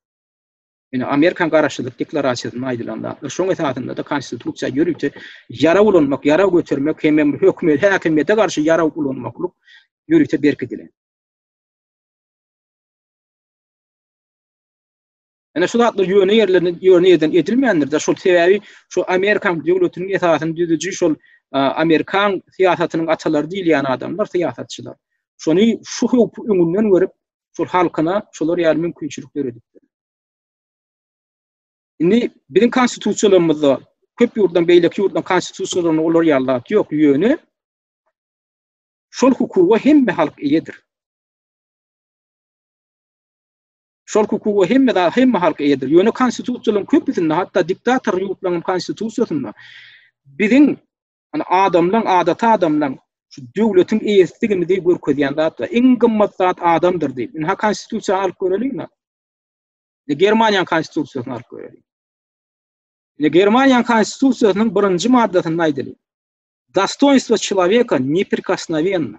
Ine, Amerikan Garaşsyzlyk deklarasiýasynda aýdylan zatlar, şoň esasynda-da Konstitusiýa ýörite ýarag ulanmak, ýarag götermek hemem hökümete, häkimiýete garşy ýarag ulanmaklyk ýörite berkidilen. Ine, şu zatlar ýöne ýerlerinde, ýöne ýerden edilmändir-de, şol sebäbi şu Amerikan döwletiniň esasyny düzüji şol Amerikan syýasatynyň atalary diýilýän adamlar, syýasatçylar. Şony şu howpy öňünden görüp, şol halkyna şolar ýaly mümkinçilik döredipdir. Indi biziň konstitusiýalarymyzda köp ýurtdan beýleki ýurtdan konstitusiýalaryny olar ýaly zat ýok, ýöne şol hukuga hemme halk eýedir. Şol hukuga hemme da hemme halk eýedir. Ýöne konstitusiýalaryň köpüsinde, hatda diktator ýurtlaryň konstitusiýasynda biziň Ýani adamlaň, adaty adamlaň şu döwletiň eýesidigimizi görkezýän zatlar. Iň gymmat zat adamdyr diýip. Indi ha konstitusiýany alyp göreliň. Indi Germaniýanyň konstitusiýasyny alyp göreliň. Indi Germaniýanyň konstitusiýasynyň birinji maddasynda aýdylýar. Dostoýnstwo çelaweka neprikosnowenne.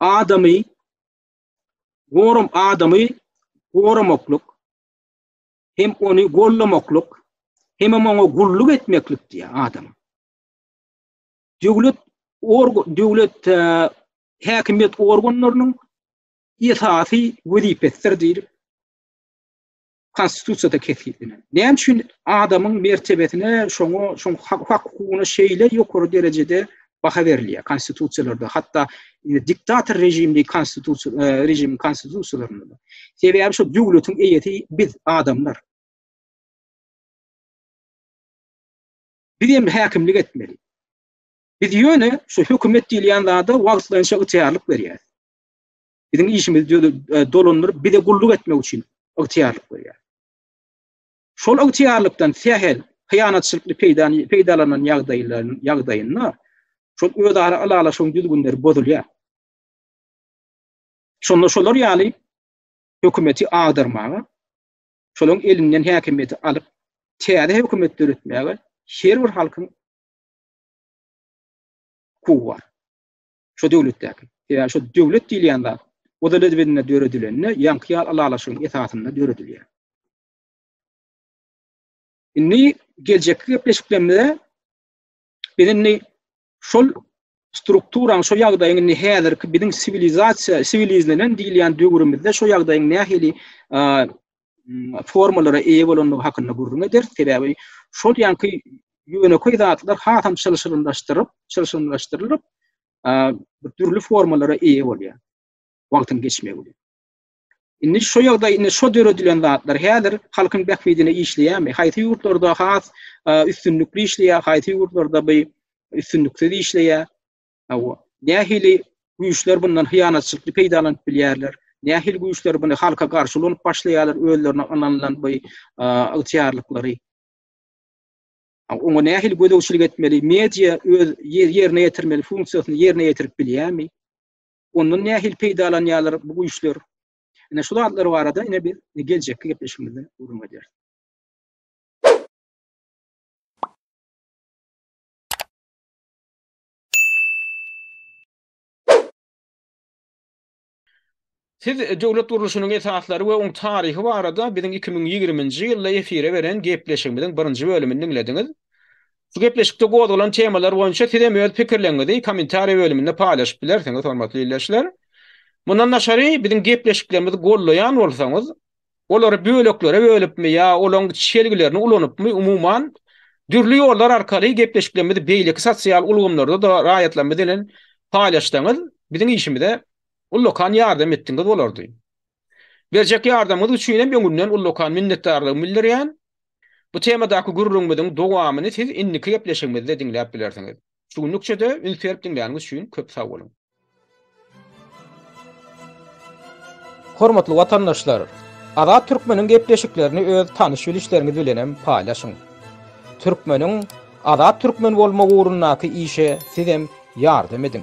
adamy goram adamy goramaklyk hem ony gollamaklyk hem oňa gulluk etmeklik diýýär adam. Döwlet org döwlet e, häkimiýet organlarynyň esasy wezipesidir diýip Konstitusiýada kesgitlenen. Näme üçin adamyň mertebesine, şoňa, şoň hak-hukugyna şeýle ýokary derejede baha berilýär konstitusiýalarda, hatda e, diktator režimli konstitusiýa e, režim konstitusiýalarynda. Sebäbi şu döwletiň eýesi biz adamlar. Biz hem häkimlik etmeli. Biz ýöne şu hökümet diýilýän zada wagtlaýynça ygtyýarlyk berýär. Biziň işimiz dolandyryp bize gulluk etmek üçin ygtyýarlyk berýär. Şol ygtyýarlykdan sähel hyýanatçylykly peýdany peýdalanan ýagdaýlaryň ýagdaýynda şol özara ylalaşygyň düzgünleri bozulýar. Şonda şolar ýaly hökümeti agdarmaga, şolaryň elinden häkimiýeti alyp, täze hökümet döretmäge her bir halkyň hukugy bar. Şo döwletdäki. Sebäbi şo döwlet diýilýän zat Ozalezbedinde döredilende ýaňky ýaly ylalaşygyň esasynda döredilýär. Indi geljekki gepleşiklerimizde biz indi şol strukturaň, şo ýagdaýyň indi häzirki biziň siwilizasiýa, siwilizlenen diýilýän döwrümizde şo ýagdaýyň nähili formalara eýe bolandygy hakynda gürrüň ederis. Sebäbi şol ýanky ýönekeý zatlar hasam çylşyrymlaşdyryp, çylşyrymlaşdyrylyp, dürli formalara eýe bolýar. Wagtyň geçmegi bilen. Indi şu ýagdaý, indi şu döredilen zatlar häzir halkyň bähbidine işleýärmi? Haýsy ýurtlarda has üstünlikli işleýär, haýsy ýurtlarda bu üstünliksiz işleýär? Hawa, nähili güýçler bundan hyýanatçylykly peýdalanyp bilýärler? Nähili güýçler buny halka garşy ulanyp başlaýarlar, özlerine ynanylan bu ygtyýarlyklary? Oňa nähili gözegçilik etmeli? Media öz ýerine ýetirmeli funksiýasyny ýerine ýetirip bilýärmi? Ondan nähili peýdalanýarlar bu güýçler? Ine şu zatlar barada ine biz geljekki gepleşigimizde gürrüň ederis. Siz döwlet gurluşynyň esaslary we oň taryhy barada biziň iki müň ýigriminji ýylda efire beren gepleşigimiziň birinji bölümini diňlediňiz. Şu gepleşikde gozgalan temalar boýunça siz hem öz pikirleriňizi kommentariýa bölüminde paýlaşyp bilersiňiz, hormatly ildeşler. Mundan daşary, biziň gepleşiklerimizi gollaýan bolsaňyz, olary böleklere bölüpmi ýa olaň çelgilerini ulanypmy, umuman, dürli ýollar arkaly gepleşiklerimizi beýleki sosial ulgamlarda-da raýatlarymyz bilen paýlaşsaňyz, biziň işimize ullakan ýardam etdigiňiz bolardy. Berjek ýardamyňyz üçin hem öňünden ullakan minnetdarlygymy bildirýän. Bu temadaky gürrüňimiziň dowamyny siz indiki gepleşigimizde diňläp bilersiňiz. Şu günlük çöde üns berip diňläniňiz üçin köp sag boluň. Hormatly watandaşlar, Azat Türkmeniň gepleşiklerini öz tanyş bilişleriňiz bilenem paýlaşyň. Türkmeniň Azat Türkmen bolmagy ugrundaky işe sizem ýardam ediň.